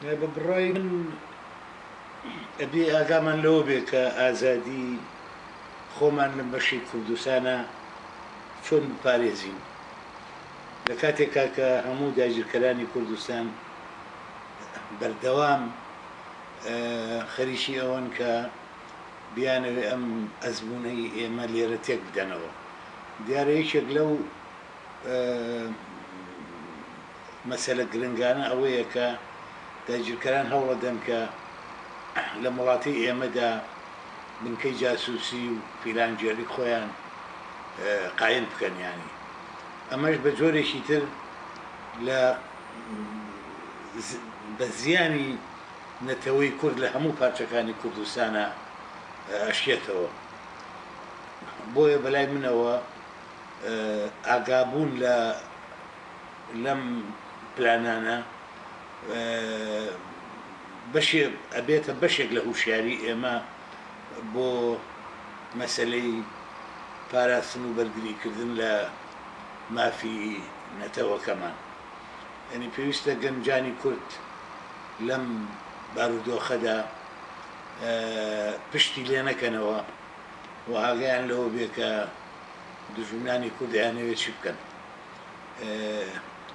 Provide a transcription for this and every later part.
بە بڕای من ئەبێ ئاگامان لەوە بێ کە ئازادی خۆمان لەم بەشی کوردستانە چۆن بپارێزین لە کاتێکا کە هەموو داگیرکەرانی کوردستان بەردەوام خەریکی ئەوەن کە بیانەوێ ئەم ئەزمونەی ئێمە لێرە تێک بدەنەوە دیارە یەکێک لەو مەسەلە گرنگانە ئەوەیە کە داگیرکەران هەوڵەدەن کە لەم وڵاتەی ئێمەدا بنکەی جاسوسی و فیلان جێلک خۆیان قایم بکەن یانی ئەمەش بە جۆرێکی تر لە بە زیانی نەتەوەی کورد لە هەموو پارچەکانی کوردستانا ئەشکێتەوە بۆیە بەلای منەوە ئاگابوون لە لەم پلانانە بەشێ ئەبێتە بەشێک لە هوشیاری ئێمە بۆ مەسەلەی پاراستن و بەرگریکردن لە مافی نەتەوەکەمان یعنی پێویستە گەنجانی کورد لەم بارودۆخەدا پشتی لێ نەکەنەوە و ئاگیان لەوە بێ کە دژمنانی کورد ئەیانەوێت چی بکەن.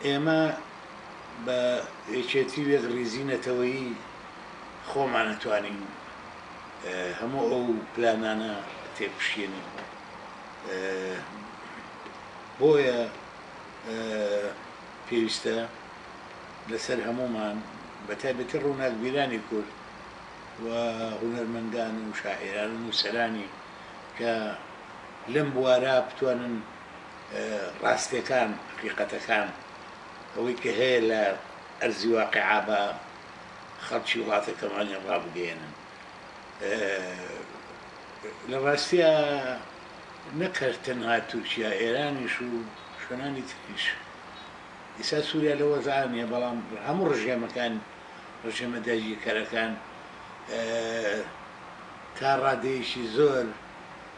ئێمە بە یەکێتی و یەکڕیزی نەتەوەیی خۆمان ئەتوانین هەموو ئەو پلانانە تێکشکێنین بۆیە پێویستە لەسەر هەمومان بە تایبەتی ڕووناکبیرانی کورد و هونەرمەندان و شاعێران و نووسەرانی کە لەم بوارە بتوانن ڕاستیەکان حەقیقەتەکان ئەوەی کە هەیە لە ئەرزی واقعا بە خەڵکی وڵاتەکەمانیان ڕابگەێنن لە ڕاستە نەکرد تەنها تورکیا ئێرانیش و شوێنانی تریش ئیسا سووریا لە وەزانە بەڵام هەموو ڕژێمەکان ڕژێمە داگیرکەرەکان تا ڕادەیەکی زۆر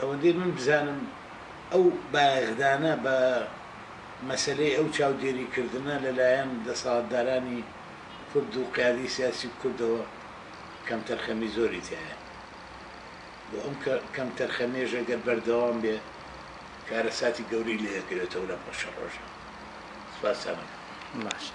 ئەوەندەی من بزانم ئەو بایەخدانە بە مەسەلەی ئەو چاودێری کردنە لە لایەن دەسەڵاتدارانی کورد و قیادەی سیاسی کوردەوە کەمتەرخەمی زۆری تیایە و ئەم کەمتەرخەمیەش گەر بەردەوام بێ کارەساتی گەورەی لێ دەکەوێتەوە لەم پەشە ڕۆژە. سپاستان ئەکەم. باشە.